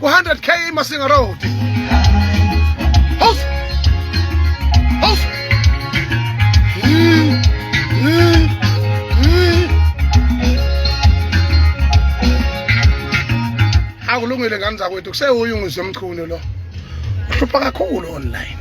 100 k imasinga road house house mm, mm, mm. akulungile ngani zakwethu kusewuye ungizwe mchunu lo uhlupha kakhulu online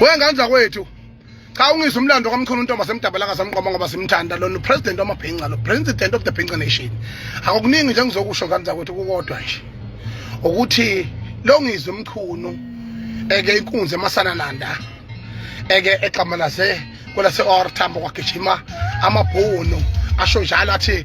wengane zakwethu cha ungizwe umlando kamkhulu untomba semdabalaka samqoma ngoba simthanda lona upresident wamabhinca lo president of the bhinca nation akukuningi nje ngizokusho ngane zakwethu kukodwa nje ukuthi lo ngizwe umchunu eke inkunzi emasanananda eke examalaze kwelase-ortambo kwagijima amabhunu asho njalo athi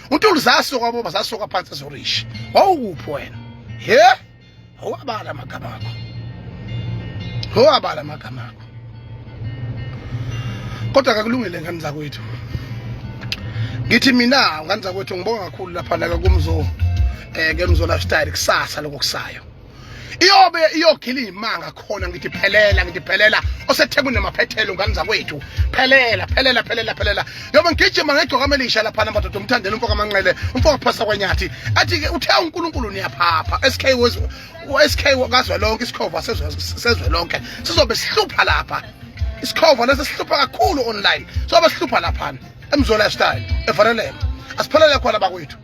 untuli zasuka baba zasuka phansi ezorishi wawukuphi wena he awabala amagama akho awabala amagama akho kodwa kakulungile ngani zakwethu ngithi mina ngani zakwethu ngibonga kakhulu lapha la kumzo eh ke mzo lifestyle kusasa lokusayo iyobe iyogila imanga khona ngithi phelela ngithi phelela osethekwini namaphethelo ngane zakwethu phelela phelela phelela phelela yobe ngigijima ngegcoka amelisha lapha namadoda umthandela umfoka amanqele umfoka phasa kwanyathi athi-ke uthe unkulunkulu niyaphapha sk sk kazwelonke isikhova sezwelonke sizobe sihlupha lapha isikhova lesi sihlupha kakhulu online sobe sihlupha laphana emzola style evalelema asiphelele khona bakwethu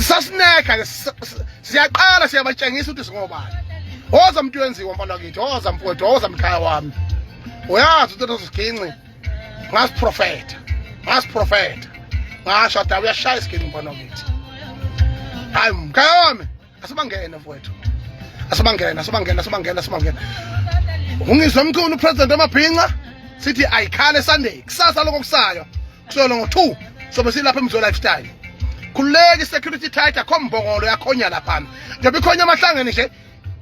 sasineka ke siyaqala siyabatshengisa ukuthi singobani woza mntu wenziwa mfana wakithi woza mfowethu woza mkhaya wami uyazi ukuthi nosiginci ngasiprofetha ngasiprofetha ngasho da uyashaya isiginci mfana wakithi hayi mkhaya wami asibangene mfowethu asibangene asibangene asibangene asibangene ungizwe mkhulu upresident amabhinca sithi ayikhale sunday kusasa lokho kusayo kusolo ngo-two sobe silapha emzo lifestyle khululeki security tight akho mbongolo yakhonya laphana njengoba ikhonya amahlangeni nje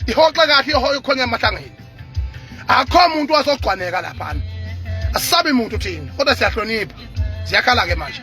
ihoxe kahle ihoyo ikhonya amahlangeni akho muntu wazogcwaneka laphana asisabi muntu thina kodwa siyahlonipha ziyakhala-ke manje